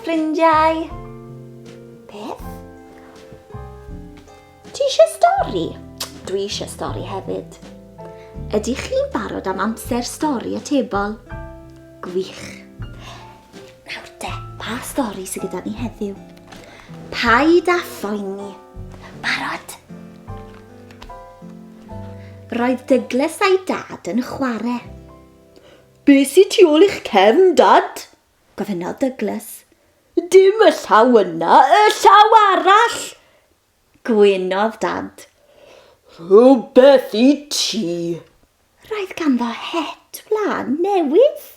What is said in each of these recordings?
ffrindiau. Beth? Ti eisiau stori? Dwi eisiau stori hefyd. Ydych chi'n barod am amser stori atebol? Gwych. Nawr de, pa stori sydd gyda ni heddiw? Paid â phoeni. Barod? Roedd Douglas a'i dad yn chwarae. Be sy'n tu ôl i'ch cefn, dad? Gofynnodd Douglas. Dim y llaw yna, y llaw arall! Gwynodd Dad. Rhywbeth i ti! Roedd ganddo het wlân newydd.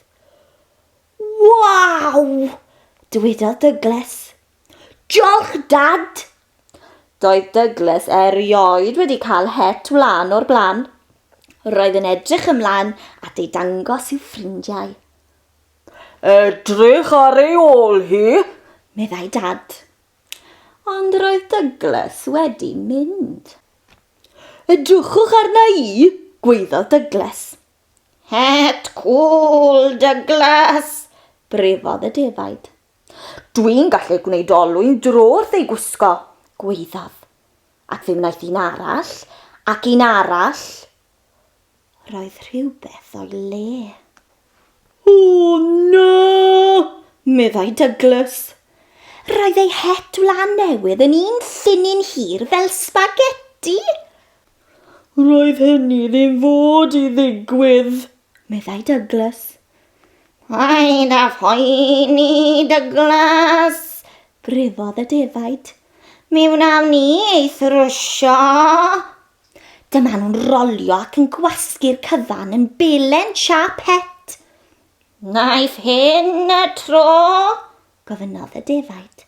Waw! dywedodd Dygles. Diolch, Dad! Doedd Dygles erioed wedi cael het wlân o'r blaen. Roedd yn edrych ymlaen at ei dangos i'w ffrindiau. Edrych ar ei ôl hi, meddai Dad. Ond roedd Douglas wedi mynd. Edrychwch arna i, gwaeddodd Douglas. Het cŵl, Douglas! brefodd y defaid. Dwi'n gallu gwneud olwyn dro wrth ei gwisgo, gwaeddodd. Ac fe wnaeth un arall, ac un arall. Roedd rhywbeth o'i le. O, na! meddai Douglas. Roedd ei het wlân newydd yn un llinyn hir fel sbageti. Roedd hynny ddim fod i ddigwydd, meddai Douglas. Paid â phoeni, Douglas, grifodd y defaid. Mi wnawn ni ei thrwsio. Dyma nhw'n rolio ac yn gwasgu'r cyfan yn belen siap het. Naiff hyn y tro? gofynnodd y defaid.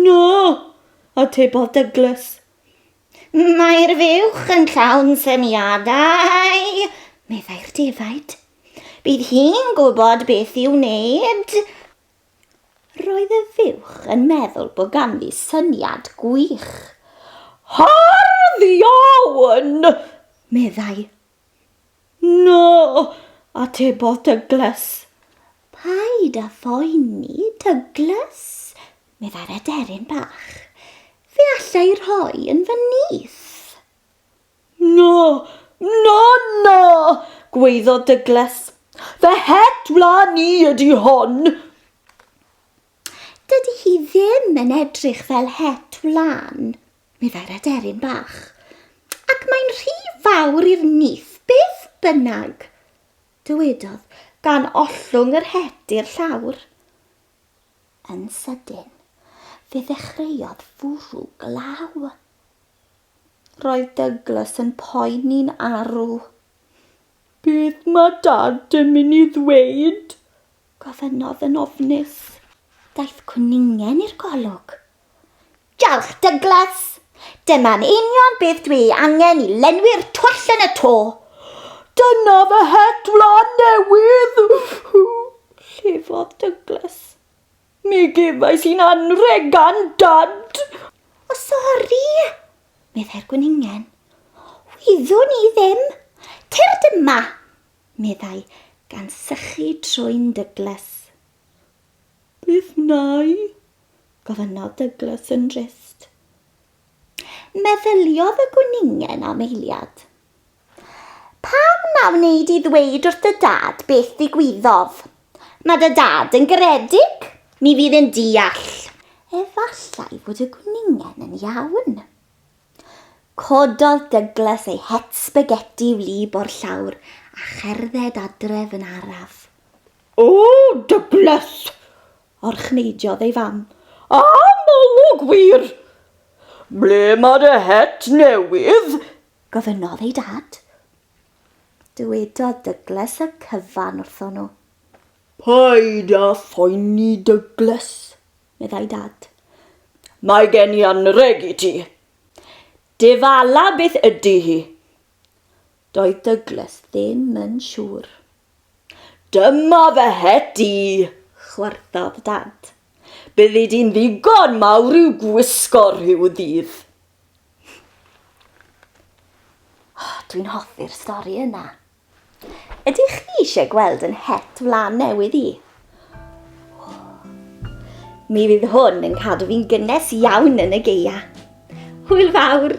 No, atebodd Douglas. Mae'r fuwch yn llawn syniadau, meddai'r defaid. Bydd hi'n gwybod beth i'w wneud. Roedd y fuwch yn meddwl bod ganddi syniad gwych. Hardd iawn! meddai. Na, atebodd Dyglys. Paid â phoeni, Dyglys, meddai'r aderyn bach. Fe alla i rhoi yn fy nyth. Na! Na! Na! gwaeddodd Dygles. Fy het wlân i ydi hon! Dydi hi ddim yn edrych fel het wlân, meddai'r aderyn bach. Ac mae'n rhy fawr i'r nyth, beth bynnag! dywedodd, gan ollwng yr het i'r llawr. Yn sydyn, fe ddechreuodd fwrw glaw. Roedd Douglas yn poeni'n arw. Beth mae Dad yn mynd i ddweud? gofynnodd yn ofnus. Daeth cwningen i'r golwg. Diolch, Douglas. Dyma'n union beth dwi ei angen i lenwi'r twll yn y to. Dyna fy het wlân newydd! llefodd Douglas. Mi gefais i'n anrheg gan Dad! O, sori! meddai'r gwningen. Wyddwn i ddim! Tyrd yma! meddai, gan sychu trwyn Douglas. Beth wnai? gofynnodd Douglas yn drist. Meddyliodd y gwningen am eiliad. Pam na wneud i ddweud wrth dy dad beth ddigwyddodd? Mae dy dad yn garedig, mi fydd yn deall. Efallai fod y gwningen yn iawn. Cododd Douglas ei het sbageti wlyb o'r llawr a cherdded adref yn araf. O, Douglas! Orchneidiodd ei fam. A Molwg wir! Ble mae dy het newydd? Gofynnodd ei dad. Dywedodd Dygles y cyfan wrthon nhw. Paid â phoeni Dygles, meddai dad. Mae gen i anrheg i ti. Dy fala beth ydy hi? Doedd Dygles ddim yn siŵr. Dyma fy het i! chwarddodd Dad. Byddi di'n ddigon mawr i'w gwisgo rhyw ddydd. Oh, Dwi'n hoffi'r stori yna. Ydych chi eisiau gweld yn het flan newydd i? Mi fydd hwn yn cadw fi'n gynnes iawn yn y geia. Hwyl fawr!